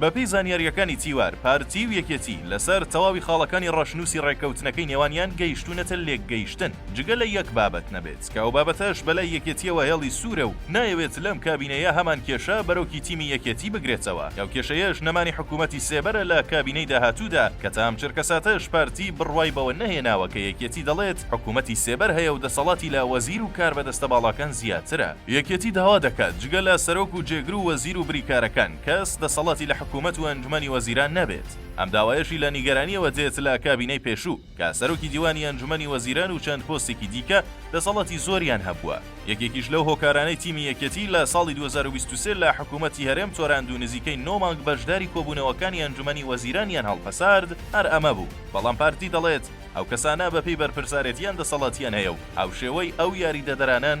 بەپێی زانیارییەکانی تیوار، پارتی و یەکێتی لەسەر تەواوی خاڵەکانی ڕەشنووسی ڕێککەوتنەکەی نێوانیان گەیشتوونەتە لێکگەیشتن، جگە لە یەک بابەت نەبێت، کە ئەو بابەتەش بەلای یەکێتییەوە هێڵی سوورە و نایەوێت لەم کابینەیە هەمان کێشە بەرۆکی تیمی یەکێتی بگرێتەوە، ئەو کێشەیەش نەمانی حکوومەتی سێبەرە لە کابینەی داهاتوودا، کە تا ئەم چرکەساتەش پارتی بڕوای بەوە نەهێناوە کە یەکێتی دەڵێت حکوومەتی سێبەر هەیە و دەسەڵاتی لە وەزیر و کاربەدەستە باڵاکان زیاترە. یەکێتی داوا دەکات جگە لە سەرۆک و جێگر و وەزیر و بریکارەکان، کەس دەسەڵاتی لە حکوومەت و ئەنجومەنی وەزیران نەبێت. ئەم داوایەشی لە نیگەرانییەوە دێت لە کابینەی پێشوو، کە سەرۆکی دیوانی ئەنجومەنی وەزیران و چەند پۆستێکی دیکە دەسەڵاتی زۆریان هەبووە. یەکێکیش لەو هۆکارانەی تیمی یەکێتی لە ساڵی دوو هەزار و بیست و سێ لە حکوومەتی هەرێم تۆراند و نزیکەی نۆ مانگ بەشداری کۆبوونەوەکانی ئەنجومەنی وەزیرانیان هەڵپەسارد هەر ئەمە بوو. بەڵام پارتی دەڵێت ئەو کەسانە بەپێی بەرپرسارێتییان دەسەڵاتیان هەیە و هاوشێوەی ئەو یاریدەدەرانەن،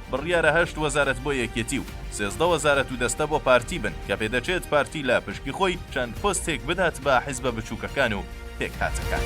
بڕیارە هەشت وەزارەت بۆ یەکێتی و سێزدە وەزارەت و دەستە بۆ پارتی بن کە پێدەچێت پارتی لە پشکی خۆی چەند پۆستێک بدات بە حیزبە بچووکەکان و پێکهاتەکان.